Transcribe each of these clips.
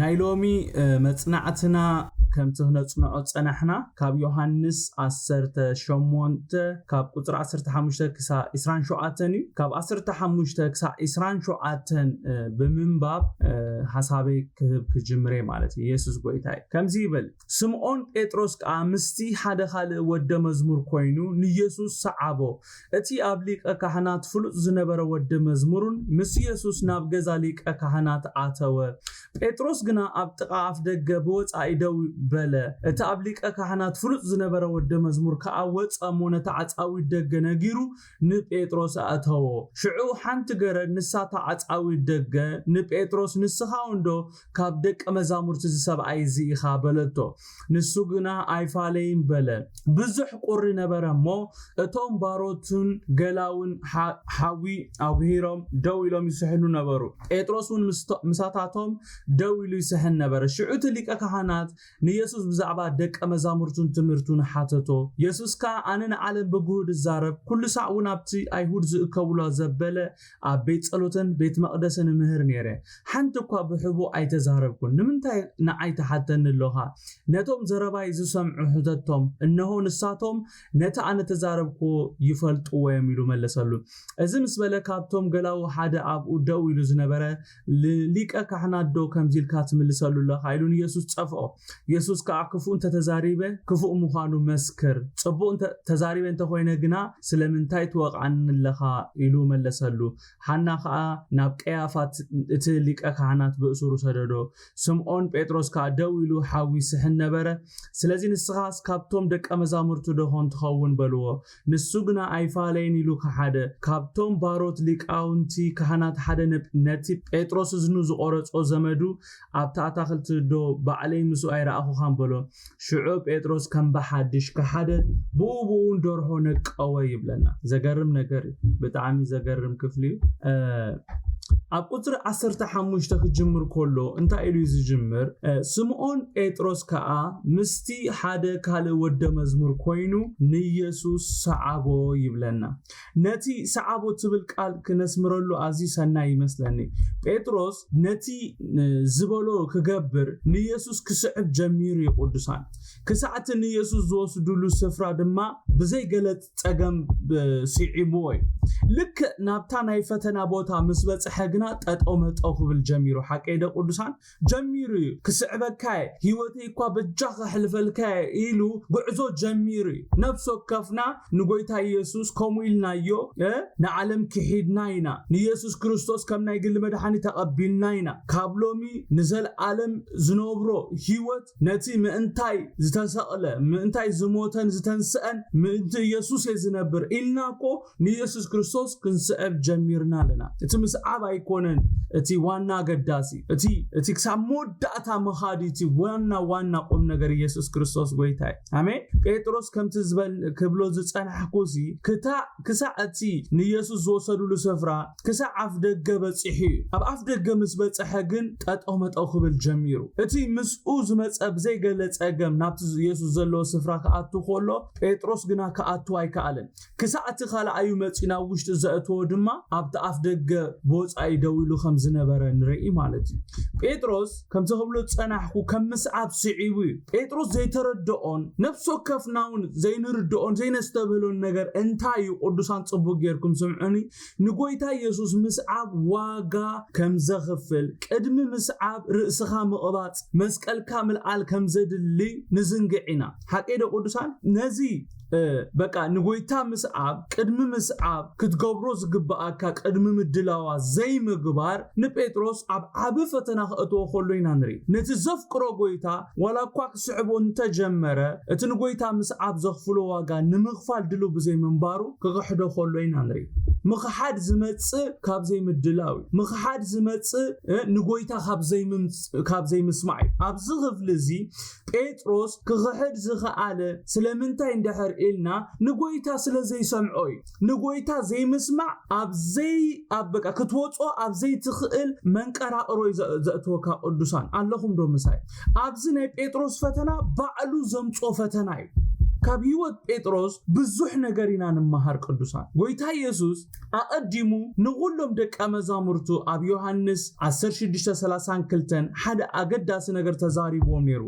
ናይ ሎሚ መጽናዕትና ከምቲ ክነጽንዖ ዝጸናሕና ካብ ዮሃንስ ዓሰርተ ሸሞንተ ካብ ቁጽሪ ዓሰርተ ሓሙሽተ ክሳዕ ዕስራን ሸውዓተን እዩ። ካብ ዓሰርተ ሓሙሽተ ክሳዕ ዕስራን ሸውዓተን ብምንባብ ሓሳበይ ክህብ ክጅምር እየ ማለት እዩ። የሱስ ጎይታ እዩ። ከምዚ ይብል ስምኦን ጴጥሮስ ከኣ ምስቲ ሓደ ኻልእ ወደ መዝሙር ኰይኑ ንየሱስ ሰዓቦ። እቲ ኣብ ሊቀ ካህናት ፍሉጥ ዝነበረ ወደ መዝሙር'ውን ምስ የሱስ ናብ ገዛ ሊቀ ካህናት ኣተወ። ጴጥሮስ ግና ኣብ ጥቓ ኣፍደገ ብወጻኢ ደው በለ። እቲ ኣብ ሊቀ ካህናት ፍሉጥ ዝነበረ ወደ መዝሙር ከኣ ወጸ እሞ ነቲ ዓጻዊት ደገ ነጊሩ ንጴጥሮስ ኣእተዎ። ሽዑ ሓንቲ ገረድ፣ ንሳ እታ ዓጻዊት ደገ፣ ንጴጥሮስ፣ ንስኻውን ዶ ካብ ደቀ መዛሙርቲ እዚ ሰብኣይ እዚ ኢኻ? በለቶ። ንሱ ግና፣ ኣይፋለይን በለ። ብዙሕ ቍሪ ነበረ እሞ፣ እቶም ባሮትን ገላውን ሓዊ ኣጕሂሮም ደው ኢሎም ይስሕኑ ነበሩ። ጴጥሮስውን ምሳታቶም ደው ኢሉ ይስሕን ነበረ። ሽዑ እቲ ሊቀ ካህናት ንየሱስ ብዛዕባ ደቀ መዛሙርቱን ትምህርቱን ሓተቶ። የሱስ ከኣ ኣነ ንዓለም ብግሁድ እዛረብ፣ ኵሉ ሳዕ እውን ኣብቲ ኣይሁድ ዝእከቡላ ዘበለ ኣብ ቤት ጸሎትን ቤት መቕደስን እምህር ነይረ። ሓንቲ እኳ ብሕቡእ ኣይተዛረብኩን። ንምንታይ ንዓይ ትሓተኒ ኣሎኻ? ነቶም ዘረባይ ዝሰምዑ ሕተቶም፣ እንሆ፣ ንሳቶም ነቲ ኣነ እተዛረብክዎ ይፈልጥዎ እዮም ኢሉ መለሰሉ። እዚ ምስ በለ ካብቶም ገላዉ ሓደ ኣብኡ ደው ኢሉ ዝነበረ ንሊቀ ካህናት ዶ ከምዚ ኢልካ ትምልሰሉ ኣለኻ? ኢሉ ንየሱስ ጸፍኦ። የሱስ ከኣ ክፉእ እንተ ተዛሪበ፣ ክፉእ ምዃኑ መስክር፣ ጽቡቕ እንተ ተዛሪበ እንተ ዀይነ ግና፣ ስለምንታይ ትወቕዓኒ ኣለኻ? ኢሉ መለሰሉ። ሓና ኸኣ ናብ ቀያፋ እቲ ሊቀ ካህናት ብእሱሩ ሰደዶ። ስምዖን ጴጥሮስ ከኣ ደው ኢሉ ሓዊ ይስሕን ነበረ። ስለዚ ንስኻስ ካብቶም ደቀ መዛሙርቱ ደዀን ትኸውን? በልዎ። ንሱ ግና ኣይፋለይን ኢሉ ከሓደ። ካብቶም ባሮት ሊቃውንቲ ካህናት ሓደ ነቲ ጴጥሮስ እዝኑ ዝቖረጾ ዘመዱ ኣብታ ኣታኽልቲ ዶ ባዕለይ ምስኡ ኣይረኣኹኻን በሎ። ሽዑ ጴጥሮስ ከም ብሓድሽ ከሓደ ብኡ ብኡ ውን ደርሆ ነቀወ ይብለና። ዘገርም ነገር እዩ። ብጣዕሚ ዘገርም ክፍሊ እዩ። ኣብ ቁጽሪ ዓሰርተ ሓሙሽተ ክጅምር ከሎ እንታይ ኢሉ እዩ ዝጅምር? ስምኦን ጴጥሮስ ከኣ ምስ እስቲ ሓደ ካልእ ወደ መዝሙር ኮይኑ ንየሱስ ሰዓቦ ይብለና። ነቲ ሰዓቦ ትብል ቃል ክነስምረሉ ኣዝዩ ሰናይ ይመስለኒ። ጴጥሮስ ነቲ ዝበሎ ክገብር ንየሱስ ክስዕብ ጀሚሩ እዩ ቅዱሳን። ክሳዕ እቲ ንየሱስ ዝወስድሉ ስፍራ ድማ ብዘይ ገለ ጸገም ስዒብዎ እዩ። ልክዕ ናብታ ናይ ፈተና ቦታ ምስ በጽሐ ግና ጠጠው መጠው ክብል ጀሚሩ። ሓቀይ ዶ ቅዱሳን? ጀሚሩ እዩ ክስዕበካየ ሂወተይ እኳ በጃ ከሕልፈልካየ ኢሉ ጉዕዞ ጀሚሩ እዩ ነፍሲ ወከፍና ንጎይታ ኢየሱስ ከምኡ ኢልናዮ ንዓለም ክሒድና ኢና ንኢየሱስ ክርስቶስ ከም ናይ ግሊ መድሓኒ ተቐቢልና ኢና ካብ ሎሚ ንዘልኣለም ዝነብሮ ሂወት ነቲ ምእንታይ ዝተሰቕለ ምእንታይ ዝሞተን ዝተንስአን ምእንቲ ኢየሱስ እየ ዝነብር ኢልና እኮ ንየሱስ ክርስቶስ ክንስዕብ ጀሚርና ኣለና እቲ ምስዓብ ኣይኮነን እቲ ዋና ኣገዳሲ እቲ እቲ ክሳብ መወዳእታ ምኻድ እቲ ዋና ዋና ቁም ነገር ኢየሱስ ክርስቶስ ጎይታ እዩ ኣሜን ጴጥሮስ ከምቲ ዝበል ክብሎ ዝጸናሕኩሲ ክታእ ክሳዕ እቲ ንየሱስ ዝወሰዱሉ ስፍራ ክሳዕ ኣፍ ደገ በጺሑ እዩ ኣብ ኣፍ ደገ ምስ በጽሐ ግን ጠጠው መጠው ክብል ጀሚሩ እቲ ምስኡ ዝመጸ ብዘይገለ ጸገም ናብቲ የሱስ ዘለዎ ስፍራ ክኣቱ ከሎ ጴጥሮስ ግና ክኣቱ ኣይከኣልን ክሳዕ እቲ ካልኣዩ መጺኡ ናብ ውሽጢ ዘእተዎ ድማ ኣብቲ ኣፍ ደገ ብወጻኢ ደው ኢሉ ከም ዝነበረ ንርኢ ማለት እዩ። ጴጥሮስ ከምቲ ክብሎ ዝጸናሕኩ ከም ምስዓብ ስዒቡ እዩ። ጴጥሮስ ዘይተረድኦን ነፍሲ ወከፍናውን ዘይንርድኦን ዘይነስተብህሎን ነገር እንታይ እዩ? ቅዱሳን ጽቡቕ ጌርኩም ስምዑኒ። ንጎይታ የሱስ ምስዓብ ዋጋ ከም ዘኽፍል፣ ቅድሚ ምስዓብ ርእስኻ ምቕባጽ፣ መስቀልካ ምልዓል ከም ዘድልይ ንዝንግዕ ኢና። ሓቀይዶ ቅዱሳን? ነዚ በቃ ንጎይታ ምስዓብ ቅድሚ ምስዓብ ክትገብሮ ዝግብኣካ ቅድሚ ምድላዋ ዘይምግባር ንጴጥሮስ ኣብ ዓቢ ፈተና ክእትዎ ከሎ ኢና ንርኢ ነቲ ዘፍቅሮ ጎይታ ዋላ እኳ ክስዕቦ እንተጀመረ እቲ ንጎይታ ምስዓብ ዘኽፍሎ ዋጋ ንምኽፋል ድልው ብዘይምንባሩ ክኽሕዶ ከሎ ኢና ንርኢ ምኽሓድ ዝመጽእ ካብ ዘይምድላው እዩ ምኽሓድ ዝመጽእ ንጎይታ ካብ ዘይምስማዕ እዩ ኣብዚ ክፍሊ እዚ ጴጥሮስ ክኽሕድ ዝኸኣለ ስለምንታይ እንድሕር ኢልና ንጎይታ ስለ ዘይሰምዖ እዩ። ንጎይታ ዘይምስማዕ ኣብ ዘይ ኣብ በቃ ክትወጾ ኣብ ዘይትኽእል መንቀራቕሮ እዩ ዘ- ዘእትወካ ቅዱሳን ኣለኹም ዶ ምሳይ? ኣብዚ ናይ ጴጥሮስ ፈተና ባዕሉ ዘምጾ ፈተና እዩ። ካብ ህይወት ጴጥሮስ ብዙሕ ነገር ኢና ንመሃር ቅዱሳን። ጎይታ ኢየሱስ ኣቐዲሙ ንዅሎም ደቀ መዛሙርቱ ኣብ ዮሃንስ ዓሰርተ ሽዱሽተ ሰላሳን ክልተን ሓደ ኣገዳሲ ነገር ተዛሪብዎም ነይሩ።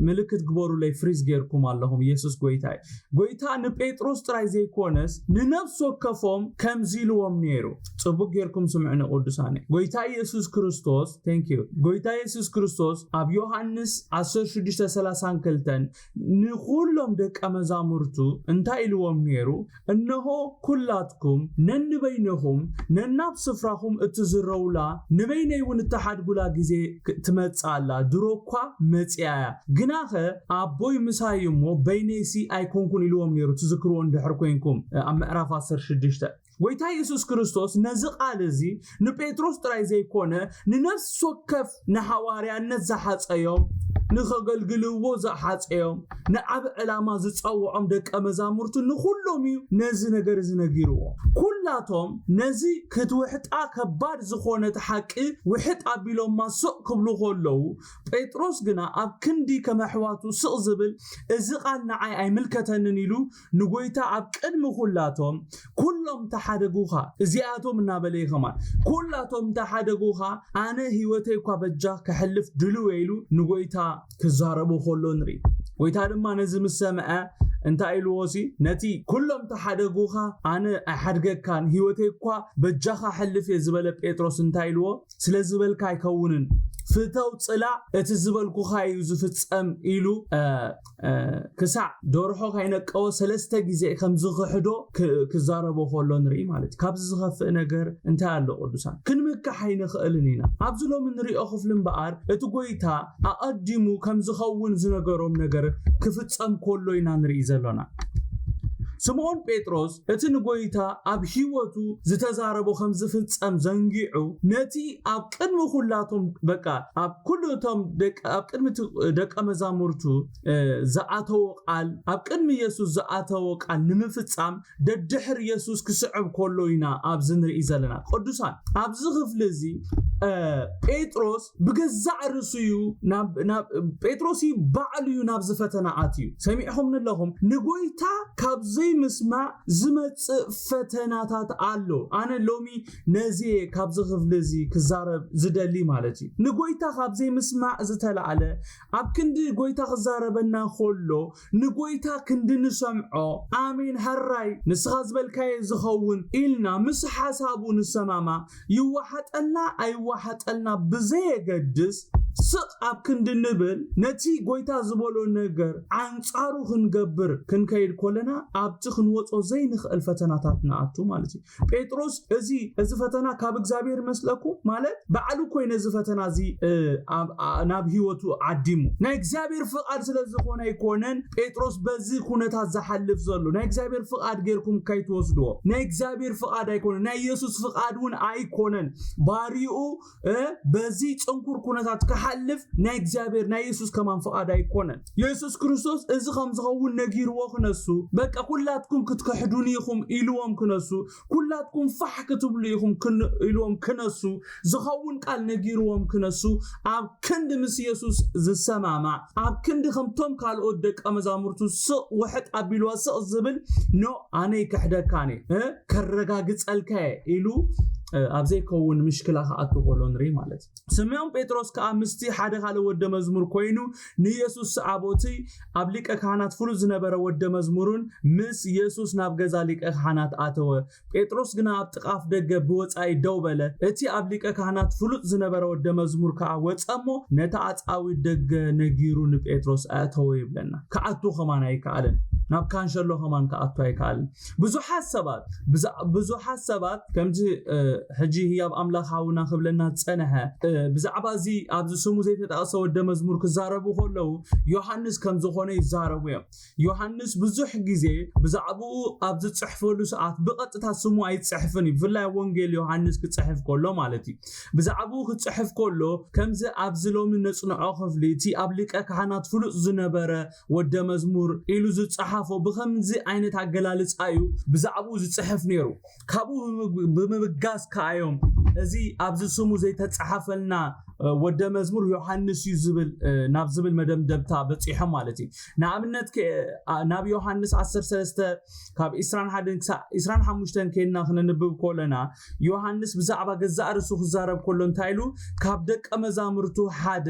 ምልክት ግበሩለይ ፍሪዝ ጌርኩም ኣለኹም ኢየሱስ ጐይታ እዩ። ጐይታ ንጴጥሮስ ጥራይ ዘይኰነስ ንነፍሲ ወከፎም ከምዚ ኢልዎም ነይሩ። ጽቡቕ ጌርኩም ስምዑኒ ቅዱሳነይ። ጐይታ ኢየሱስ ክርስቶስ፣ Thank you፣ ጐይታ ኢየሱስ ክርስቶስ ኣብ ዮሃንስ ዓሰርተ ሽዱሽተ ሰላሳን ክልተን ንዅሎም ደቀ መዛሙርቱ እንታይ ኢልዎም ነይሩ? እንሆ፣ ኵላትኩም ነንበይንኹም ነናብ ስፍራኹም እትዝረዉላ፣ ንበይነይውን እትሓድጉላ ጊዜ ትመጽእ ኣላ፣ ድሮ እኳ መጺኣ እያ፣ ግናኸ ኣቦይ ምሳይ እዩ እሞ፣ በይነይሲ ኣይኰንኩን ኢልዎም ነይሩ፣ ትዝክርዎ እንድሕር ኰይንኩም፣ ኣብ ምዕራፍ ዓሰርተ ሽዱሽተ። ጐይታ የሱስ ክርስቶስ ነዚ ቓል እዚ ንጴጥሮስ ጥራይ ዘይኰነ ንነፍሲ ወከፍ ንሓዋርያነት ዝሓጸዮም ንኸገልግልዎ ዝሓጸዮም ንዓቢ ዕላማ ዝጸውዖም ደቀ መዛሙርቱ ንዅሎም እዩ ነዚ ነገር እዚ ነጊርዎ ኵላቶም ነዚ ክትውሕጣ ከባድ ዝዀነት ሓቂ ውሕጥ ኣቢሎማ ስቕ ክብሉ ከለዉ ጴጥሮስ ግና ኣብ ክንዲ ከም ኣሕዋቱ ስቕ ዝብል እዚ ቓል ንዓይ ኣይምልከተንን ኢሉ ንጐይታ ኣብ ቅድሚ ኵላቶም ኵሎም ተሓደጉኻ፣ እዚኣቶም እናበለ እዩ ኸማን፣ ኵላቶም ተሓደጉኻ፣ ኣነ ህይወተይ እኳ በጃኽ ከሕልፍ ድሉው እየ ኢሉ ንጐይታ ክዛረቦ ኸሎ ንርኢ። ጐይታ ድማ ነዚ ምስ ሰምዐ እንታይ ኢልዎሲ ነቲ ኵሎም ተሓደጉኻ ኣነ ኣይሓድገካን ህይወተይ እኳ በጃኻ ኣሕልፍ እየ ዝበለ ጴጥሮስ እንታይ ኢልዎ ስለ ዝበልካ ኣይከውንን ፍተው ጽላእ እቲ ዝበልኩኻ እዩ ዝፍጸም ኢሉ ክሳዕ ደርሆ ከይነቀወ ሰለስተ ግዜ ከም ዝኽሕዶ ክዛረቦ ከሎ ንርኢ ማለት ካብዚ ዝኸፍእ ነገር እንታይ ኣሎ ቅዱሳን ክንምካሕ ኣይንኽእልን ኢና ኣብዚ ሎሚ ንሪኦ ክፍሊ እምበኣር እቲ ጎይታ ኣቐዲሙ ከም ዝኸውን ዝነገሮም ነገር ክፍጸም ከሎ ኢና ንርኢ ዘሎና ስምዖን ጴጥሮስ እቲ ንጐይታ ኣብ ህይወቱ ዝተዛረቦ ከም ዝፍጸም ዘንጊዑ ነቲ ኣብ ቅድሚ ኩላቶም በቃ ኣብ ኩሉ እቶም ደቂ ኣብ ቅድሚ እቲ ደቀ መዛሙርቱ እ፣ ዝኣተዎ ቃል ኣብ ቅድሚ የሱስ ዝኣተዎ ቃል ንምፍጻም ደድሕር የሱስ ክስዕብ ከሎ ኢና ኣብዚ ንርኢ ዘለና ቅዱሳን ኣብዚ ክፍሊ እዚ እ፣ ጴጥሮስ ብገዛእ ርእሱ እዩ ናብ ናብ ጴጥሮስ እዩ ባዕሉ እዩ ናብዚ ፈተና ኣትዩ ሰሚዕኹም ንለኹም ንጎይታ ካብ ዘይምስማዕ ዝመጽእ ፈተናታት ኣሎ ኣነ ሎሚ ነዚ ካብዚ ክፍሊ እዚ ክዛረብ ዝደሊ ማለት እዩ ንጎይታ ካብ ዘይምስማዕ ዝተላዕለ ኣብ ክንዲ ጎይታ ክዛረበና ከሎ ንጎይታ ክንዲ ንሰምዖ ኣሜን ሀራይ ንስኻ ዝበልካዮ ዝኸውን ኢልና ምስ ሓሳቡ ንሰማማዕ ይዋሓጠልና ኣይዋሓጠልና ብዘየገድስ ስቅ ኣብ ክንዲ ንብል ነቲ ጎይታ ዝበሎ ነገር ኣንጻሩ ክንገብር ክንከይድ ኮለና ኣብቲ ክንወጾ ዘይንኽእል ፈተናታት ንኣቱ ማለት እዩ። ጴጥሮስ እዚ እዚ ፈተና ካብ እግዚኣብሔር መስለኩ ማለት ባዕሉ ኮይነ እዚ ፈተና እዚ ናብ ህይወቱ ዓዲሙ ናይ እግዚኣብሔር ፍቃድ ስለ ዝኾነ ኣይኮነን ጴጥሮስ በዚ ኩነታት ዝሓልፍ ዘሎ ናይ እግዚኣብሔር ፍቃድ ጌርኩም ካይትወስድዎ ናይ እግዚኣብሔር ፍቃድ ኣይኮነን ናይ ኢየሱስ ፍቃድ እውን ኣይኮነን ባሪኡ በዚ ፅንኩር ኩነታት ክሓልፍ ናይ እግዚኣብሔር ናይ የሱስ ከማን ፍቓድ ኣይኮነን የሱስ ክርስቶስ እዚ ከም ዝኸውን ነጊርዎ ክነሱ በቃ ኩላትኩም ክትክሕዱኒ ኢኹም ኢልዎም ክነሱ ኩላትኩም ፋሕ ክትብሉ ኢኹም ኢልዎም ክነሱ ዝኸውን ቃል ነጊርዎም ክነሱ ኣብ ክንዲ ምስ የሱስ ዝሰማማዕ ኣብ ክንዲ ከምቶም ካልኦት ደቀ መዛሙርቱ ስቕ ውሕጥ ኣቢልዋ ስቕ ዝብል ኖ ኣነ ይክሕደካኒ ከረጋግጸልካ እየ ኢሉ ኣብ ዘይከውን ምሽክላ ክኣቱ ከሎ ንርኢ ማለት እዩ ስምዖን ጴጥሮስ ከዓ ምስቲ ሓደ ካልእ ወደ መዝሙር ኮይኑ ንየሱስ ሰዓቦቲ ኣብ ሊቀ ካህናት ፍሉጥ ዝነበረ ወደ መዝሙሩን ምስ የሱስ ናብ ገዛ ሊቀ ካህናት ኣተወ ጴጥሮስ ግና ኣብ ጥቃፍ ደገ ብወፃኢ ደው በለ እቲ ኣብ ሊቀ ካህናት ፍሉጥ ዝነበረ ወደ መዝሙር ከዓ ወፀ እሞ ነቲ ኣፃዊ ደገ ነጊሩ ንጴጥሮስ ኣእተወ ይብለና ክኣቱ ከማን ኣይከኣልን ናብ ካንሸሎ ከማን ክኣቱ ኣይከኣልን ብዙሓት ሰባት ብዙሓት ሰባት ከምዚ ሕጂ ህያብ ኣምላኽ ሃውና ክብለና ዝጸንሐ ብዛዕባ እዚ ኣብዚ ስሙ ዘይተጠቕሰ ወደ መዝሙር ክዛረቡ ከለዉ ዮሃንስ ከም ዝኾነ ይዛረቡ እዮም ዮሃንስ ብዙሕ ግዜ ብዛዕባኡ ኣብ ዝጽሕፈሉ ሰዓት ብቐጥታ ስሙ ኣይጽሕፍን እዩ ብፍላይ ወንጌል ዮሃንስ ክጽሕፍ ከሎ ማለት እዩ ብዛዕባኡ ክጽሕፍ ከሎ ከምዚ ኣብዚ ሎሚ ነጽንዖ ክፍሊ እቲ ኣብ ሊቀ ካህናት ፍሉጥ ዝነበረ ወደ መዝሙር ኢሉ ዝጸሓፎ ብከምዚ ዓይነት ኣገላልጻ እዩ ብዛዕባኡ ዝጽሕፍ ነይሩ። ካብኡ ብምብጋስ ከኣ እዮም እዚ ኣብዚ ስሙ ዘይተጻሓፈልና ወደ መዝሙር ዮሃንስ እዩ ዝብል ናብ ዝብል መደምደምታ በጺሖም ማለት እዩ ንኣብነት ናብ ዮሃንስ 13 ካብ 21 ክሳብ 25 ከይና ክነንብብ ኮለና ዮሃንስ ብዛዕባ ገዛእ ርእሱ ክዛረብ ኮሎ እንታይ ኢሉ ካብ ደቀ መዛሙርቱ ሓደ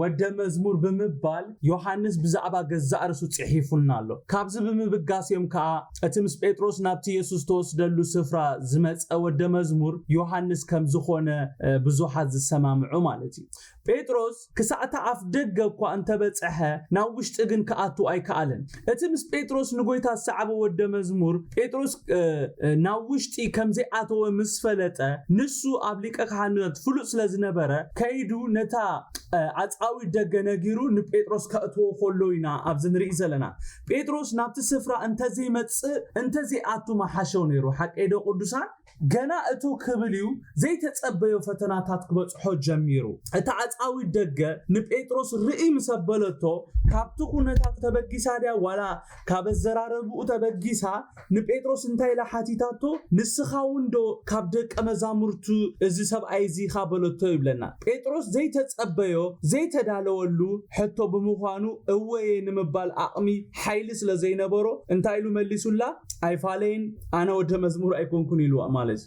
ወደ መዝሙር ብምባል ዮሓንስ ብዛዕባ ገዛእ ርእሱ ጽሒፉልና ኣሎ። ካብዚ ብምብጋስ እዮም ከኣ እቲ ምስ ጴጥሮስ ናብቲ የሱስ ዝተወስደሉ ስፍራ ዝመጸ ወደ መዝሙር ዮሓንስ ከም ዝዀነ ብዙሓት ዝሰማምዑ ማለት እዩ። ጴጥሮስ ክሳዕ እቲ ኣፍደገ እኳ እንተ በጽሐ ናብ ውሽጢ ግን ክኣቱ ኣይከኣለን። እቲ ምስ ጴጥሮስ ንጐይታ ዝሰዓበ ወደ መዝሙር፣ ጴጥሮስ ናብ ውሽጢ ከም ዘይኣተወ ምስ ፈለጠ፣ ንሱ ኣብ ሊቀ ካህናት ፍሉጥ ስለ ዝነበረ፣ ከይዱ ነታ ኣጻዊት ደገ ነጊሩ ንጴጥሮስ ከእትዎ ከሎ ኢና ኣብዚ ንርኢ ዘለና። ጴጥሮስ ናብቲ ስፍራ እንተ ዘይመጽእ እንተ ዘይኣቱ ምሓሾ ነይሩ። ሓቀይዶ ቅዱሳን? ገና እቶ ክብል እዩ ዘይተጸበዮ ፈተናታት ክበጽሖ ጀሚሩ። እታ ኣጻዊት ደገ ንጴጥሮስ ርእይ ምስ ኣበለቶ፣ ካብቲ ኩነታቱ ተበጊሳ ድያ ዋላ ካብ ኣዘራረብኡ ተበጊሳ ንጴጥሮስ እንታይ ኢላ ሓቲታቶ፣ ንስኻውንዶ ካብ ደቀ መዛሙርቱ እዚ ሰብኣይ እዚ ኢኻ በለቶ ይብለና። ጴጥሮስ ዘይተጸበዮ ዘይተዳለወሉ ሕቶ ብምዃኑ እወ'የ ንምባል ኣቕሚ፣ ሓይሊ፣ ስለ ዘይነበሮ እንታይ ኢሉ መሊሱላ? ኣይፋለይን። ኣነ ወደ መዝሙር ኣይኮንኩን ኢሉ ማለት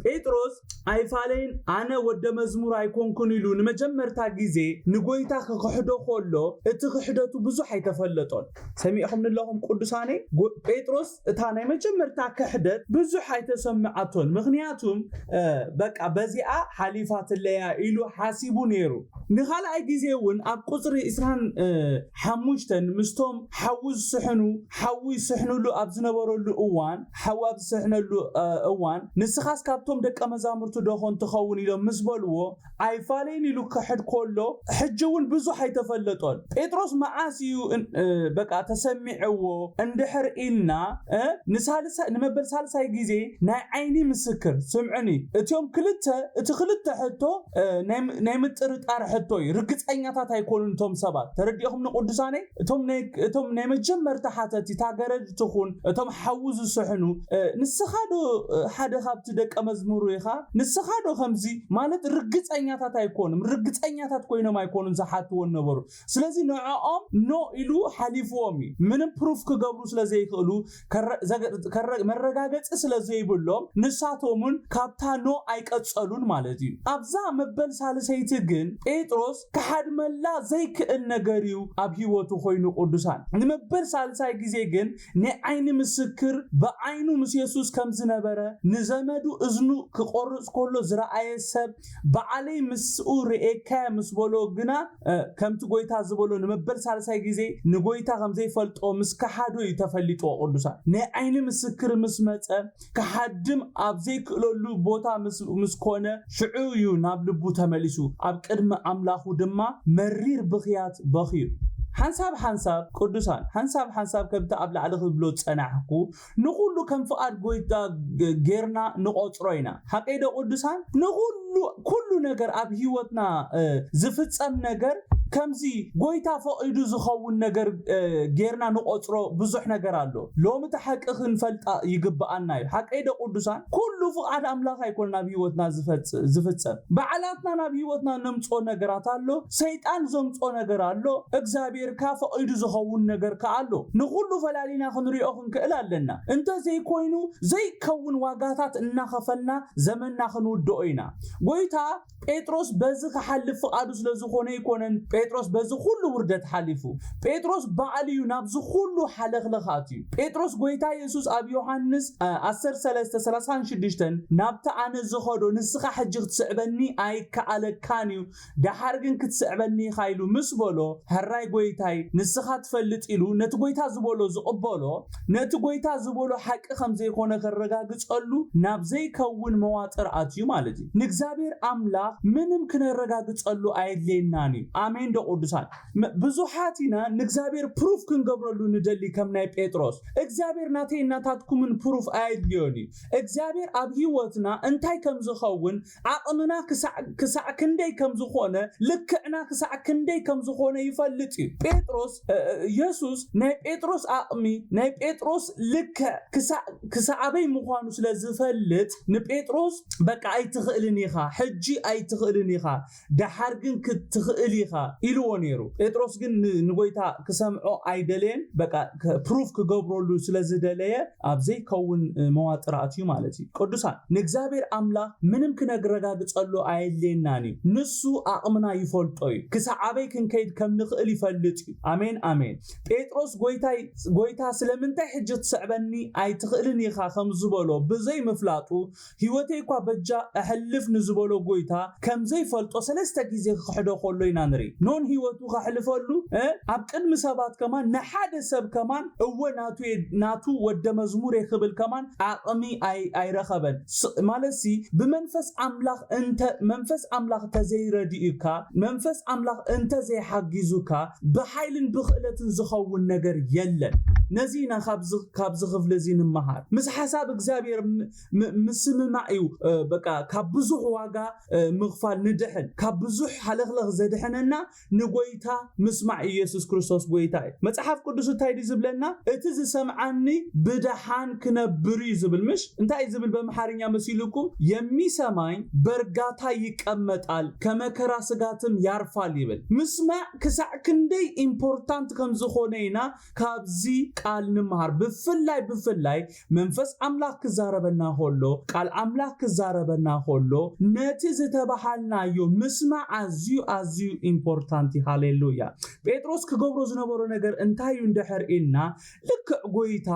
ጴጥሮስ ኣይፋለይን ኣነ ወደ መዝሙር ኣይኮንኩን ኢሉ ንመጀመርታ ግዜ ንጎይታ ክኽሕዶ ከሎ እቲ ክሕደቱ ብዙሕ ኣይተፈለጦን ሰሚዕኹም ንለኹም ቅዱሳነይ ጴጥሮስ እታ ናይ መጀመርታ ክሕደት ብዙሕ ኣይተሰምዓቶን ምክንያቱም በቃ በዚኣ ሓሊፋትለያ ኢሉ ሓሲቡ ነይሩ ንካልኣይ ግዜ እውን ኣብ ቁፅሪ እስራን ሓሙሽተ፣ ምስቶም ሓዊ ዝስሕኑ፣ ሓዊ ይስሕንሉ ኣብ ዝነበረሉ እዋን፣ ሓዊ ኣብ ዝስሕነሉ እዋን፣ ንስኻስ ካብቶም ደቀ መዛሙርቱ ደኾን ትኸውን? ኢሎም ምስ በልዎ፣ ኣይፋለይን ኢሉ ክኽሕድ ከሎ፣ ሕጂ'ውን ብዙሕ ኣይተፈለጦን። ጴጥሮስ መዓስ እዩ በቃ ተሰሚዕዎ እንድሕር ኢልና፣ ንሳልሳይ፣ ንመበል ሳልሳይ ግዜ ናይ ዓይኒ ምስክር፣ ስምዑኒ፣ እቲኦም ክልተ፣ እቲ ክልተ ሕቶ፣ ናይ ምጥርጣር ሕቶ እዩ ርግፀኛታት ኣይኮኑን እቶም ሰባት ተረዲእኹም ንቅዱሳነይ እቶም ናይ መጀመርታ ሓተቲ ታገረድ ትኹን እቶም ሓዉ ዝስሕኑ ንስኻ ዶ ሓደ ካብቲ ደቀ መዝሙሩ ኢኻ ንስኻ ዶ ከምዚ ማለት ርግፀኛታት ኣይኮኑም ርግፀኛታት ኮይኖም ኣይኮኑን ዝሓትዎ ነበሩ ስለዚ ንዕኦም No ኢሉ ሓሊፍዎም እዩ። ምንም Proof ክገብሩ ስለዘይክእሉ፣ መረጋገጺ ስለዘይብሎም ንሳቶምውን ካብታ No ኣይቀጸሉን ማለት እዩ። ኣብዛ መበል ሳልሰይቲ ግን ጴጥሮስ ክሓድመላ ዘይክእል ነገር እዩ ኣብ ህይወቱ ኮይኑ ቅዱሳን። ንመበል ሳልሳይ ግዜ ግን ናይ ዓይኒ ምስክር ብዓይኑ ምስ የሱስ ከም ዝነበረ ንዘመዱ እዝኑ ክቖርጽ ከሎ ዝረኣየ ሰብ በዓለይ ምስኡ ርእየካ'የ ምስ በሎ ግና ከምቲ ጎይታ ዝበሎ ንመበል ሳልሳይ ግዜ ንጎይታ ከም ዘይፈልጦ ምስ ከሓዶ'ዩ ተፈሊጥዎ ቅዱሳን ናይ ዓይኒ ምስክር ምስ መጸ ክሃድም ኣብ ዘይክእለሉ ቦታ ምስ ኰነ፣ ሽዑ እዩ ናብ ልቡ ተመሊሱ፣ ኣብ ቅድሚ ኣምላኹ ድማ መሪር ብኽያት በኽዩ። ሓንሳብ ሓንሳብ፣ ቅዱሳን፣ ሓንሳብ ሓንሳብ ከምቲ ኣብ ላዕሊ ክብሎ ዝጸናሕኩ፣ ንዅሉ ከም ፍቓድ ጐይታ ገይርና ንቖጽሮ ኢና። ሓቀይዶ ቅዱሳን? ንዅሉ! ኩሉ ኩሉ ነገር ኣብ ሂወትና ዝፍጸም ነገር ከምዚ ጎይታ ፈቂዱ ዝኸውን ነገር ጌርና ንቆጽሮ ብዙሕ ነገር ኣሎ ሎሚ እታ ሓቂ ክንፈልጣ ይግብኣና እዩ ሓቀይ ዶ ቁዱሳን ኩሉ ፍቃድ ኣምላኽ ኣይኮነን ኣብ ሂወትና ዝፍጸም ባዕላትና ናብ ሂወትና ነምጾ ነገራት ኣሎ ሰይጣን ዘምጾ ነገር ኣሎ እግዚኣብሔር ከኣ ፈቂዱ ዝኸውን ነገር ከኣ ኣሎ ንኩሉ ፈላሊና ክንሪኦ ክንክእል ኣለና እንተ ዘይኮይኑ ዘይከውን ዋጋታት እናኸፈልና ዘመንና ክንውድኦ ኢና። ጎይታ ጴጥሮስ በዚ ክሓልፍ ፍቓዱ ስለ ዝኾነ ኣይኮነን ጴጥሮስ በዚ ኩሉ ውርደት ሓሊፉ። ጴጥሮስ ባዕሉ እዩ ናብዚ ኩሉ ሓለኽለኽ ኣትዩ። ጴጥሮስ ጎይታ የሱስ ኣብ ዮሓንስ ዓሰርተ ሰለስተ ሰላሳን ሽዱሽተን ናብቲ ኣነ ዝኸዶ ንስኻ ሕጂ ክትስዕበኒ ኣይከኣለካን እዩ ደሓር ግን ክትስዕበኒ ኢኻ ኢሉ ምስ በሎ፣ ሕራይ ጐይታይ፣ ንስኻ ትፈልጥ ኢሉ ነቲ ጐይታ ዝበሎ ዝቕበሎ፣ ነቲ ጐይታ ዝበሎ ሓቂ ከም ዘይኮነ ከረጋግጸሉ ናብ ዘይከውን መዋጥር ኣትዩ ማለት እዩ። ንእግዚኣብሔር ኣምላኽ ምንም ክነረጋግጸሉ ኣየድልየናን እዩ። ኣሜንዶ ቅዱሳን? ብዙሓት ኢና ንእግዚኣብሔር ፕሩፍ ክንገብረሉ ንደሊ ከም ናይ ጴጥሮስ። እግዚኣብሔር ናተይን ናታትኩምን ፕሩፍ ኣየድልዮን እዩ። እግዚኣብሔር ኣብ ሕይወትና እንታይ ከም ዝኸውን ዓቕምና ክሳዕ ክሳዕ ክንደይ ከም ዝዀነ፣ ልክዕና ክሳዕ ክንደይ ከም ዝዀነ ይፈልጥ እዩ። ጴጥሮስ የሱስ ናይ ጴጥሮስ ዓቕሚ፣ ናይ ጴጥሮስ ልክዕ ክሳዕ ክሳዕ ኣበይ ምዃኑ ስለ ዝፈልጥ፣ ንጴጥሮስ በቃ ኣይትኽእልን ኢኻ፣ ሕጂ ኣይትኽእልን ኢኻ፣ ደሓር ግን ክትኽእል ኢኻ ኢልዎ ነይሩ። ጴጥሮስ ግን ንጐይታ ክሰምዖ ኣይደለየን፣ በቃ ፕሩፍ ክገብረሉ ስለ ዝደለየ፣ ኣብ ዘይከውን መዋጥር ኣትዩ ማለት እዩ። ቅዱሳን ንእግዚኣብሔር ኣምላኽ ምንም ክነግረጋግጸሉ ኣየድልየናን እዩ። ንሱ ኣቕምና ይፈልጦ እዩ። ክሳዕ ኣበይ ክንከይድ ከም ንኽእል ይፈልጥ እዩ። ኣሜን ኣሜን። ጴጥሮስ ጎይታይ ጎይታ ስለምንታይ ሕጂ ትስዕበኒ ኣይትኽእልን ኢኻ ከም ዝበሎ ብዘይምፍላጡ ህይወተይ እኳ በጃ እሕልፍ ንዝበሎ ጎይታ ከም ዘይፈልጦ ሰለስተ ግዜ ክኽሕዶ ከሎ ኢና ንርኢ። ኖን ህይወቱ ከሕልፈሉ እ ኣብ ቅድሚ ሰባት ከማን ንሓደ ሰብ ከማን እወ ናቱ እየ ናቱ ወደ መዝሙር እየ ክብል ከማን ዓቕሚ ኣይ ኣይረኸበን ስ ማለትሲ ብመንፈስ ኣምላኽ እንተ መንፈስ ኣምላኽ ተዘይረዲኡካ መንፈስ ኣምላኽ እንተ ዘይሓጊዙካ ብሓይልን ብኽእለትን ዝኸውን ነገር የለን። ነዚ ኢና ካብዚ ካብዚ ክፍሊ እዚ ንመሃር። ምስ ሓሳብ እግዚኣብሔር ምስምማዕ እዩ በቃ ካብ ብዙሕ ዋጋ ምኽፋል ንድሕን ካብ ብዙሕ ሃለኽለኽ ዘድሕነና ንጎይታ ምስማዕ እዩ የሱስ ክርስቶስ ጎይታ እዩ መጽሓፍ ቅዱስ እንታይ ድዩ ዝብለና እቲ ዝሰምዓኒ ብድሓን ክነብር እዩ ዝብል ምሽ እንታይ እዩ ዝብል በምሓርኛ መሲሉኩም የሚሰማኝ በርጋታ ይቀመጣል ከመከራ ስጋትም ያርፋል ይብል ምስማዕ ክሳዕ ክንደይ ኢምፖርታንት ከም ዝኾነ ኢና ካብዚ ቃል ንምሃር ብፍላይ ብፍላይ መንፈስ ኣምላኽ ክዛረበና ኸሎ፣ ቃል ኣምላኽ ክዛረበና ኸሎ፣ ነቲ ዝተበሃልናዮ ምስማዕ ኣዝዩ ኣዝዩ ኢምፖርታንት እዩ። ሃሌሉያ! ጴጥሮስ ክገብሮ ዝነበሮ ነገር እንታይ እዩ እንድሕር ኢልና፣ ልክዕ ጎይታ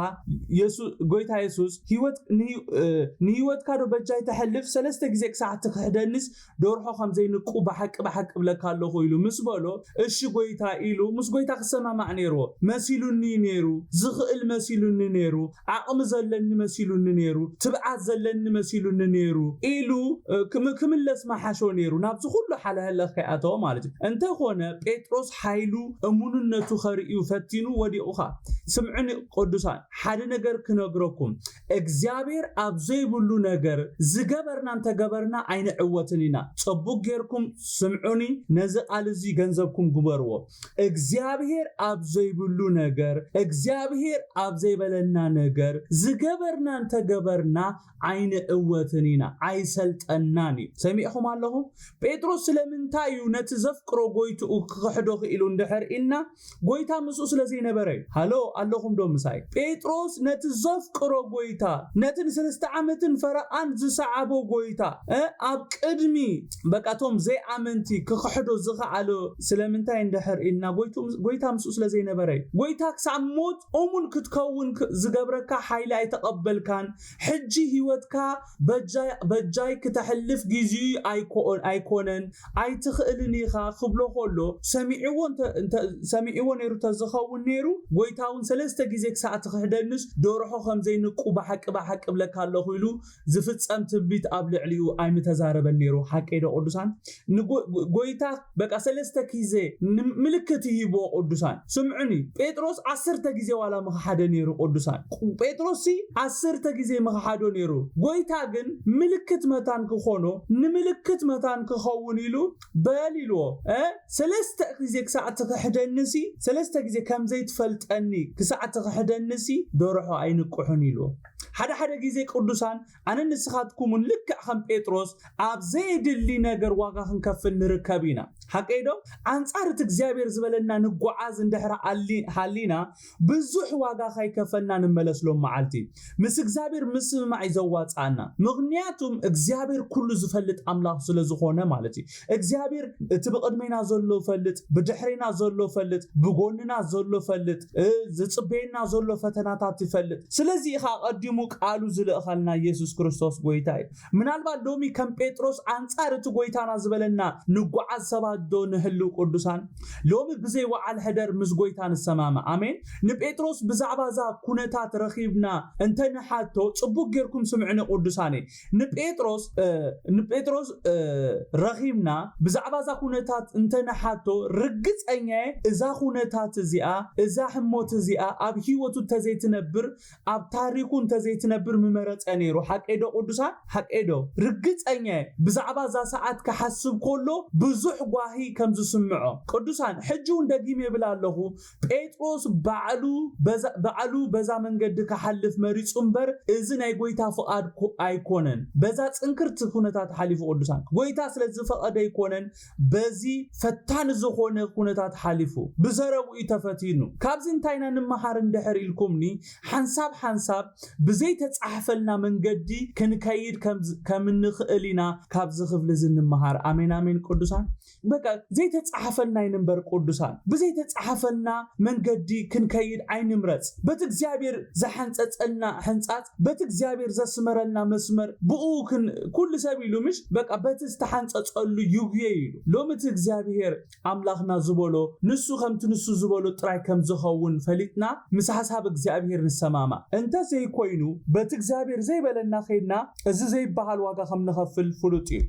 የሱ ጎይታ የሱስ ህይወት ንህይ እ ንህይወትካዶ በጃይ ተሕልፍ ሰለስተ ግዜ ክሳዕ ትክሕደኒስ ደርሖ ከም ዘይንቁ ብሓቂ ብሓቂ እብለካ ኣሎኹ ኢሉ ምስ በሎ፣ እሺ ጎይታ ኢሉ ምስ ጎይታ ክሰማማዕ ነይርዎ። መሲሉኒ'ዩ ነይሩ፣ ዝኽእል መሲሉኒ ነይሩ፣ ዓቕሚ ዘለኒ መሲሉኒ ነይሩ፣ ትብዓት ዘለኒ መሲሉኒ ነይሩ ኢሉ ክምለስ ምሓሾ ነይሩ፣ ናብዚ ኩሉ ሓለህለኽ ከይኣተወ ማለት'ዩ። እንተ ኾነ ጴጥሮስ ሓይሉ እሙንነቱ ከርእዩ ፈቲኑ ወዲቑ ኸኣ። ስምዑኒ ቅዱሳን፣ ሓደ ነገር ክነግረኩም፣ እግዚኣብሔር ኣብ ዘይብሉ ነገር ዝገበርና እንተገበርና ኣይንዕወትን ኢና ጸቡቅ ጌርኩም ስምዑኒ ነዚ ቃል እዚ ገንዘብኩም ግበርዎ እግዚኣብሔር ኣብ ዘይብሉ ነገር እግዚኣብሔር ኣብ ዘይበለና ነገር ዝገበርና እንተገበርና ኣይንዕወትን ኢና ኣይሰልጠናን እዩ ሰሚዕኹም ኣለኹም ጴጥሮስ ስለምንታይ እዩ ነቲ ዘፍቅሮ ጎይትኡ ክኽሕዶ ክኢሉ እንድሕር ኢልና ጐይታ ምስኡ ስለ ዘይነበረ እዩ። ሃሎ ኣሎኹምዶ ምሳይ? ጴጥሮስ ነቲ ዘፍቅሮ ጐይታ፣ ነቲ ንሰለስተ ዓመትን ፈረቓን ዝሰዓቦ ጐይታ፣ ኣብ ቅድሚ በቃ እቶም ዘይኣመንቲ ክኽሕዶ ዝኸኣለ ስለምንታይ እንድሕር ኢልና፣ ጐይታ ምስኡ ስለ ዘይነበረ እዩ። ጐይታ ክሳብ ሞት እሙን ክትከውን ዝገብረካ ሓይሊ ኣይተቐበልካን፣ ሕጂ ህይወትካ በጃይ በጃይ ክተሕልፍ ጊዚኡ ኣይኮኦን ኣይኮነን ኣይትኽእልን ኢኻ ክብሎ ኮሎ ሰሚዕዎ እንተ እንተ ሰሚዕዎ ነይሩ ተዝኸውን ነይሩ ጎይታ ውን ሰለስተ ጊዜ ክሳዕ ትኽሕደንስ ዶርሖ ከምዘይንቁ ብሓቂ ብሓቂ እብለካ ኣለኹ ኢሉ ዝፍጸም ትንቢት ኣብ ልዕሊኡ ኣይምተዛረበን ነይሩ ሓቀይዶ ቅዱሳን ንጎ ጎይታ በቃ ሰለስተ ኪዘ ን ምልክት ይህብዎ ቁዱሳን ስምዑኒ ጴጥሮስ ዓሰርተ ጊዜ ዋላ ምክሓደ ነይሩ ቁዱሳን ጴጥሮስ ሲ ዓሰርተ ጊዜ ምክሓዶ ነይሩ ጎይታ ግን ምልክት መታን ክኮኖ ንምልክት መታን ክከውን ኢሉ በል ኢልዎ እ ሰለስተ ጊዜ ክሳዕ ትክሕደኒ ሲ ሰለስተ ጊዜ ከምዘይትፈልጠኒ ክሳዕ ትክሕደኒ ሲ ዶርሖ ኣይንቅሑን ኢልዎ ሓደ ሓደ ጊዜ ቁዱሳን ኣነን ንስኻትኩምን ልክዕ ከም ጴጥሮስ ኣብ ዘየድሊ ነገር ዋጋ ክንከፍል ንርከብ ኢና። ሓቀይ ዶ? ኣንጻር እቲ እግዚኣብሔር ዝበለና ንጎዓዝ እንድሕር ሃሊና ብዙሕ ዋጋ ካይከፈልና ንመለስ ሎም መዓልቲ። ምስ እግዚኣብሔር ምስምማዕ እዩ ዘዋጽኣና። ምኽንያቱም እግዚኣብሔር ኩሉ ዝፈልጥ ኣምላኽ ስለዝኾነ ማለት እዩ። እግዚኣብሔር እቲ ብቅድሜና ዘሎ ፈልጥ ብድሕሬና ዘሎ ፈልጥ ብጎንና ዘሎ ፈልጥ ዝጽበየና ዘሎ ፈተናታት ይፈልጥ ስለዚ ኢካ ኣቀዲሙ ቃሉ ዝልእከልና ኢየሱስ ክርስቶስ ጎይታ እዩ ምናልባት ሎሚ ከም ጴጥሮስ ኣንጻር እቲ ጎይታና ዝበለና ንጓዓዝ ሰባት ዶ ንህልው ቅዱሳን ሎሚ ብዘይ ወዓል ሕደር ምስ ጎይታ ንሰማማ ኣሜን ንጴጥሮስ ብዛዕባ እዛ ኩነታት ረኪብና እንተ ንሓቶ ጽቡቅ ጌርኩም ስምዕኒ ቅዱሳነይ ንጴጥሮስ ንጴጥሮስ ረኺብና ብዛዕባ እዛ ኩነታት እንተ ንሓቶ ርግጸኛ'የ እዛ ኩነታት እዚኣ እዛ ህሞት እዚኣ ኣብ ህይወቱ እንተ ዘይትነብር ኣብ ታሪኹ እንተ ዘይትነብር ምመረጸ ነይሩ ሓቀይዶ ቅዱሳን ሓቀይዶ ርግጸኛ'የ ብዛዕባ እዛ ሰዓት ክሓስብ ከሎ ብዙሕ ጓሂ ከም ዝስምዖ ቅዱሳን ሕጂ'ውን ደጊመ ይብል ኣለኹ ጴጥሮስ ባዕሉ በዛ ባዕሉ በዛ መንገዲ ክሓልፍ መሪጹ እምበር እዚ ናይ ጎይታ ፍቓድ ኮ ኣይኮነን በዛ ጽንክርቲ ኩነታት ሓሊፉ ቅዱሳን ጎይታ ስለ ዝፈቐደ ኣይኮነን በዚ ፈታኒ ዝኾነ ኩነታት ሓሊፉ ብዘረብኡ እዩ ተፈቲኑ ካብዚ እንታይ ኢና ንመሃር እንድሕር ኢልኩምኒ ሓንሳብ ሓንሳብ ብዘይ ተጻሕፈልና መንገዲ ክንከይድ ከም ከም እንኽእል ኢና ካብዚ ክፍሊ እዚ እንመሃር ኣሜን ኣሜን ቅዱሳን በቃ ዘይተጻሕፈልና ኣይንንበር ቅዱሳን ብዘይተጻሕፈልና መንገዲ ክንከይድ ኣይንምረጽ በቲ እግዚኣብሔር ዘሐንጸጸልና ሕንጻጽ በቲ እግዚኣብሔር ዘስመረልና መስመር ብኡ ኩሉ ሰብ ኢሉ ምሽ በቃ በቲ ዝተሓንጸጸሉ ይጉየ ኢሉ ሎሚ እቲ እግዚኣብሔር ኣምላኽና ዝበሎ ንሱ ከምቲ ንሱ ዝበሎ ጥራይ ከም ዝኸውን ፈሊጥና ምስ ሓሳብ እግዚኣብሔር ንሰማማዕ እንተ ዘይኮይኑ በቲ እግዚኣብሔር ዘይበለና ከይድና እዚ ዘይበሃል ዋጋ ከም ንኸፍል ፍሉጥ እዩ።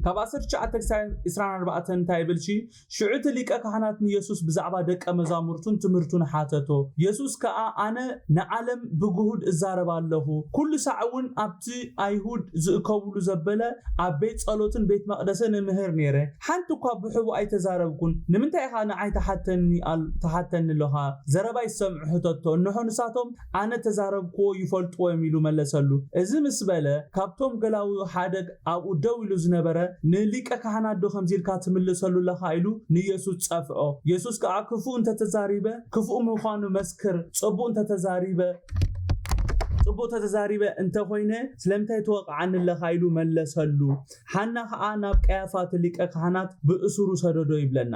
ካብ ዓሰርተ ትሽዓተ ክሳብ ዕስራን ኣርባዕተን እንታይ ይብል ሲ? ሽዑ እቲ ሊቀ ካህናት ንየሱስ ብዛዕባ ደቀ መዛሙርቱን ትምህርቱን ሓተቶ። የሱስ ከኣ ኣነ ንዓለም ብግሁድ እዛረብ ኣለኹ፣ ኵሉ ሳዕ እውን ኣብቲ ኣይሁድ ዝእከቡሉ ዘበለ ኣብ ቤት ጸሎትን ቤት መቕደሰን እምህር ነይረ። ሓንቲ እኳ ብሕቡእ ኣይተዛረብኩን። ንምንታይ ኢኻ ንዓይ ትሓተኒ ትሓተኒ ኣሎኻ? ዘረባይ ዝሰምዑ ሕተቶ። እንሆ ንሳቶም ኣነ እተዛረብኩዎ ይፈልጡዎ እዮም ኢሉ መለሰሉ። እዚ ምስ በለ፣ ካብቶም ገላዉኡ ሓደ ኣብኡ ደው ኢሉ ዝነበረ፣ ንሊቀ ካህናትዶ ከምዚ ኢልካ ትምልሰሉ ኣለኻ? ኢሉ ንየሱስ ጸፍዖ። የሱስ ከኣ ክፉእ እንተ ተዛሪበ፣ ክፉእ ምዃኑ መስክር፣ ጽቡቕ እንተ ተዛሪበ፣ ጽቡቕ እንተ ተዛሪበ እንተ ዀይነ፣ ስለምንታይ ትወቕዓኒ ኣለኻ? ኢሉ መለሰሉ። ሓና ኸኣ ናብ ቀያፋ እቲ ሊቀ ካህናት ብእሱሩ ሰደዶ ይብለና።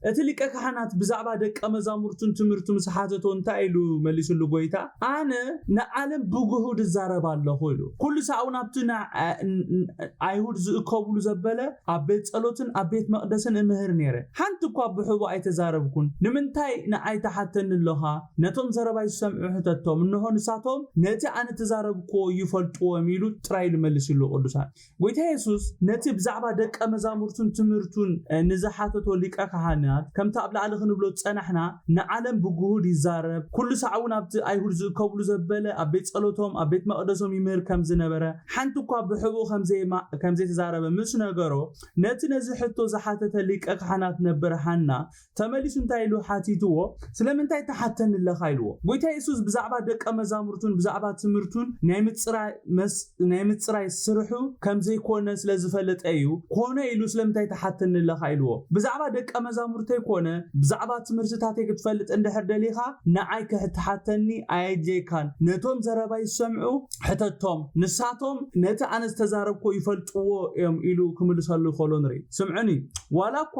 እቲ ሊቀ ካህናት ብዛዕባ ደቀ መዛሙርቱን ትምህርቱ ምስ ሓተቶ እንታይ ኢሉ መሊሱሉ ጎይታ ኣነ ንዓለም ብግሁድ እዛረብ ኣለኹ ኢሉ። ኩሉ ሳዕ ውን ኣብቲ ንኣይሁድ ዝእከቡሉ ዘበለ ኣብ ቤት ጸሎትን ኣብ ቤት መቅደስን እምህር ኔረ። ሓንቲ እኳ ብሕቡእ ኣይተዛረብኩን። ንምንታይ ንኣይ ትሓተኒ ኣሎኻ? ነቶም ዘረባይ ዝሰምዑ ሕተቶም እንሆ ንሳቶም ነቲ ኣነ እተዛረብክዎ ይፈልጥዎ እዮም ኢሉ ጥራይ ኢሉ መሊሱሉ። ቅዱሳን። ጐይታ የሱስ ነቲ ብዛዕባ ደቀ መዛሙርቱን ትምህርቱን ንዝሓተቶ ሊቀ ኻህናት፣ ከምቲ ኣብ ላዕሊ ኽንብሎ ዝጸናሕና፣ ንዓለም ብግሁድ ይዛረብ፣ ኵሉ ሳዕ እውን ኣብቲ ኣይሁድ ዝእከቡሉ ዘበለ ኣብ ቤት ጸሎቶም፣ ኣብ ቤት መቕደሶም ይምህር ከም ዝነበረ፣ ሓንቲ እኳ ብሕቡእ ከም ዘይተዛረበ ምስ ነገሮ፣ ነቲ ነዚ ሕቶ ዝሓተተ ሊቀ ኻህናት ነበር ሃና ተመሊሱ እንታይ ኢሉ ሓቲትዎ? ስለምንታይ ትሓተኒ ኣለኻ? ኢልዎ። ጐይታ የሱስ ብዛዕባ ደቀ መዛሙርቱን ብዛዕባ ትምህርቱን ናይ ምጽራይ መስ ናይ ምጽራይ ስርሑ ከም ዘይኰነ ስለ ዝፈለጠ ኢዩ ኰነ ኢሉ ስለምንታይ ትሓተኒ ኣለኻ? ኢልዎ። ብዛዕባ ደቀ መዛሙርተይ ኰነ ብዛዕባ ትምህርትታተይ ክትፈልጥ እንድሕር ደሊኻ ንዓይ ክትሓተኒ ኣየድልየካን። ነቶም ዘረባይ ዝሰምዑ ሕተቶም። ንሳቶም ነቲ ኣነ ዝተዛረብክዎ ይፈልጥዎ ኢዮም ኢሉ ክምልሰሉ ከሎ ንርኢ። ስምዑኒ ዋላ እኳ።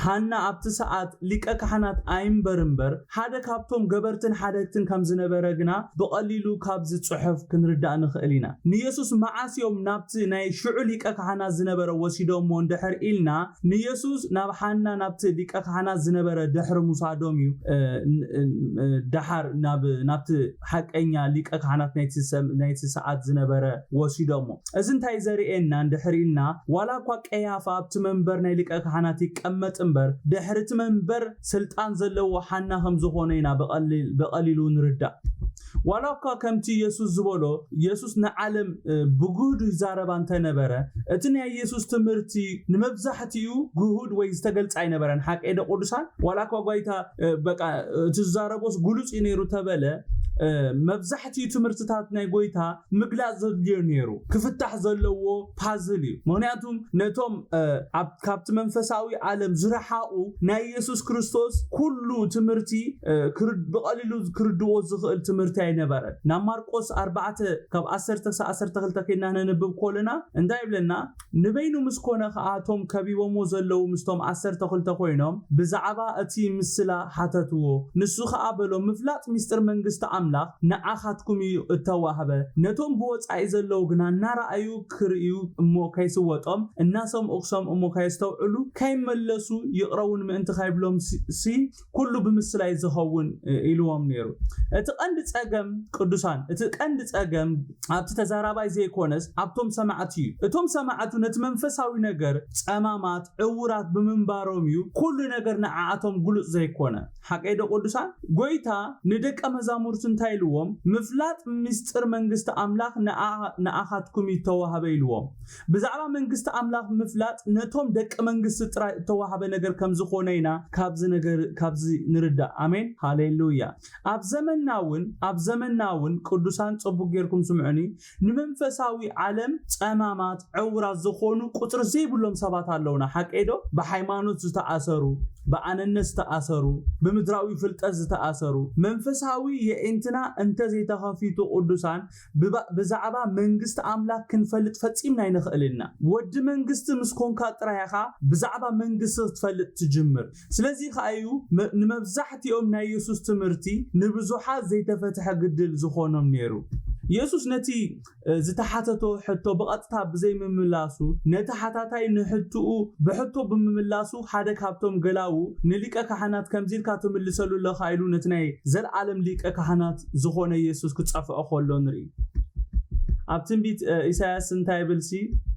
ሃና ኣብቲ ሰዓት ሊቀ ካሕናት ኣይንበር እምበር ሓደ ካብቶም ገበርትን ሓደግትን ከም ዝነበረ ግና ብቐሊሉ ካብዚ ጽሑፍ ክንርዳእ ንኽእል ኢና። ንየሱስ መዓስ እዮም ናብቲ ናይ ሽዑ ሊቀ ካሕናት ዝነበረ ወሲዶምዎ እንድሕር ኢልና ንየሱስ ናብ ሃና ናብቲ ሊቀ ካሕናት ዝነበረ ድሕሪ ምውሳዶም እዩ ደሓር ናብቲ ሓቀኛ ሊቀ ካህናት ናይቲ ሰዓት ዝነበረ ወሲዶሞ። እዚ እንታይ ዘርእየና እንድሕር ኢልና ዋላ እኳ ቀያፋ ኣብቲ መንበር ናይ ሊቀ ካህናት ይቀመጥ እምበር ድሕሪ እቲ መንበር ስልጣን ዘለዎ ሓና ከም ዝኾነ ኢና ብቐሊሉ ንርዳእ። ዋላ እኳ ከምቲ የሱስ ዝበሎ የሱስ ንዓለም ብግህዱ ይዛረባ እንተ ነበረ እቲ ናይ የሱስ ትምህርቲ ንመብዛሕትኡ ግሁድ ወይ ዝተገልጸ ኣይነበረን። ሓቀይዶ ቅዱሳን? ዋላ እኳ ጓይታ በቃ እቲ ዝዛረቦስ ግሉጽ እዩ ነይሩ ተበለ መብዛሕትኡ ትምህርትታት ናይ ጎይታ ምግላጽ ዘድልዮ ነይሩ ክፍታሕ ዘለዎ ፓዝል እዩ ምክንያቱም ነቶም ካብቲ መንፈሳዊ ዓለም ዝረሓቑ ናይ የሱስ ክርስቶስ ኩሉ ትምህርቲ ብቐሊሉ ክርድዎ ዝኽእል ትምህርቲ ኣይነበረን ናብ ማርቆስ 4 ካብ 1 ክሳብ 12 ከይና ነንብብ ኮለና እንታይ ይብለና ንበይኑ ምስ ኮነ ከኣ እቶም ከቢቦምዎ ዘለዉ ምስቶም ዓሰርተ ክልተ ኮይኖም ብዛዕባ እቲ ምስላ ሓተትዎ። ንሱ ከኣ በሎም ምፍላጥ ምስጢር መንግስቲ ኣምላኽ ንዓኻትኩም እዩ እተዋህበ፣ ነቶም ብወጻኢ ዘለዉ ግና እናረኣዩ ክርእዩ እሞ ከይስወጦም እናሰምኡ ክሰምኡ እሞ ከየስተውዕሉ ከይመለሱ ይቕረውን ምእንቲ ከይብሎምሲ፣ ኩሉ ብምስላይ ዝኸውን ኢልዎም ነይሩ። እቲ ቀንዲ ጸገም ቅዱሳን እቲ ቀንዲ ጸገም ኣብቲ ተዛራባይ ዘይኮነስ ኣብቶም ሰማዕቲ እዩ። እቶም ሰማዕቱ ነቲ መንፈሳዊ ነገር ጸማማት፣ ዕዉራት፣ ብምንባሮም እዩ ኩሉ ነገር ንዓኣቶም ግሉጽ ዘይኮነ። ሓቀይዶ ቅዱሳን? ጎይታ ንደቀ መዛሙርቱ እንታይ ኢልዎም? ምፍላጥ ምስጢር መንግስቲ ኣምላኽ ንኣኻትኩም እዩ እተዋህበ ኢልዎም። ብዛዕባ መንግስቲ ኣምላኽ ምፍላጥ ነቶም ደቂ መንግስቲ ጥራይ እተዋህበ ነገር ከም ዝዀነ ኢና ካብዚ ነገር ካብዚ ንርዳእ። ኣሜን። ሃሌሉያ። ኣብ ዘመንና እውን ኣብ ዘመንና እውን ቅዱሳን ጽቡቕ ጌርኩም ስምዑኒ ንመንፈሳዊ ዓለም ጸማማት ዕውራት ዝዀኑ ቍጽሪ ዘይብሎም ሰባት ኣለውና። ሓቀይዶ? ብሓይማኖት ዝተኣሰሩ፣ ብኣነነት ዝተኣሰሩ፣ ብምድራዊ ፍልጠት ዝተኣሰሩ። መንፈሳዊ የዒንትና እንተ ዘይተኸፊቱ ቅዱሳን ብባእ ብዛዕባ መንግስቲ ኣምላክ ክንፈልጥ ፈጺምና ኣይንክእልን ኢና። ወዲ መንግስቲ ምስ ኮንካ ጥራይ ኢካ ብዛዕባ መንግስቲ ክትፈልጥ ትጅምር። ስለዚ ከኣ እዩ ንመብዛሕቲኦም ናይ የሱስ ትምህርቲ ንብዙሓት ዘይተፈትሐ ግድል ዝኮኖም ነይሩ። የሱስ ነቲ ዝተሓተቶ ሕቶ ብቀጥታ ብዘይ ምምላሱ ነቲ ሓታታይ ንሕትኡ ብሕቶ ብምምላሱ ሓደ ካብቶም ገላዉ ንሊቀ ካህናት ከምዚ ኢልካ ትምልሰሉ ኣለካ ኢሉ ነቲ ናይ ዘልኣለም ሊቀ ካህናት ዝኾነ የሱስ ክጸፍዖ ከሎ ንርኢ። ኣብ ትንቢት ኢሳያስ እንታይ ይብልሲ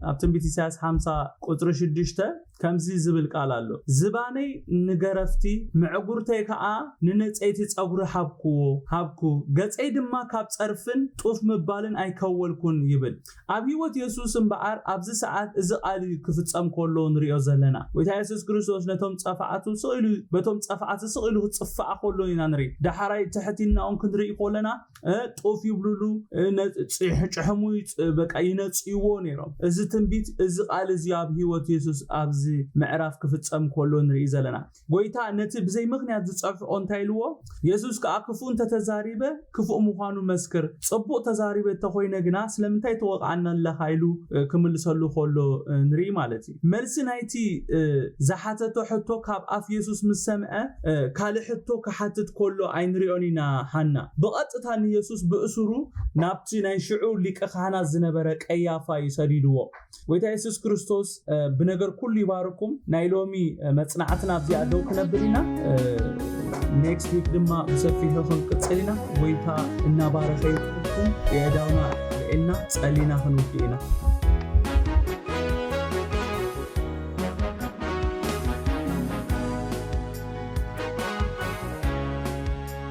ኣብ ትንቢት ኢሳያስ ሓምሳ ቁጽሪ ሽዱሽተ ከምዚ ዝብል ቃል ኣሎ ዝባነይ ንገረፍቲ ምዕጉርተይ ከኣ ንነጸይቲ ጸጉሪ ሃብክዎ ሃብኩ ገጸይ ድማ ካብ ጸርፍን ጡፍ ምባልን ኣይከወልኩን ይብል ኣብ ሕይወት የሱስ እምበኣር ኣብዚ ሰዓት እዚ ቃል እዩ ክፍጸም ከሎ ንርእዮ ዘለና። ጎይታ የሱስ ክርስቶስ ነቶም ጸፋኣቱ ስቕ ኢሉ በቶም ጸፋኣት ስቕ ኢሉ ክጽፋኣ ከሎ ኢና ንርኢ። ዳሕራይ ትሕቲናኦም ክንርኢ ከለና እ ጡፍ ይብሉሉ እ ነ ጽሕ ጭሕሙ ይጽ በቃ ይነጽይዎ ነይሮም። እዚ ትንቢት እዚ ቃል እዚ ኣብ ሕይወት የሱስ ኣብዚ ምዕራፍ ክፍጸም ከሎ ንርኢ ዘለና። ጐይታ ነቲ ብዘይ ምኽንያት ዝጸፍሕኦ እንታይ ኢልዎ? የሱስ ከኣ ክፉእ እንተ ተዛሪበ፣ ክፉእ ምዃኑ መስክር፣ ጽቡቕ ተዛሪበ እተ ዀይነ ግና፣ ስለምንታይ ትወቕዓኒ ኣለኻ? ኢሉ ክምልሰሉ ከሎ ንርኢ ማለት እዩ። መልሲ ናይቲ ዝሓተቶ ሕቶ ካብ ኣፍ የሱስ ምስ ሰምዐ፣ ካልእ ሕቶ ክሓትት ከሎ ኣይንርእዮን ኢና። ሃና ብቐጥታ ንየሱስ ብእሱሩ ናብቲ ናይ ሽዑ ሊቀ-ኻህናት ዝነበረ ቀያፋ እዩ ሰዲድዎ። ጎይታ የሱስ ክርስቶስ ብነገር ኩሉ ይባርኩም። ናይ ሎሚ መጽናዕትና ኣብዚኣ ደው ክነብል ኢና። ኔክስት ዊክ ድማ ብሰፊሑ ክንቅጽል ኢና። ጎይታ እናባረኸ ይትኩም የእዳውና ልዕልና ጸሊና ክንውድ ኢና።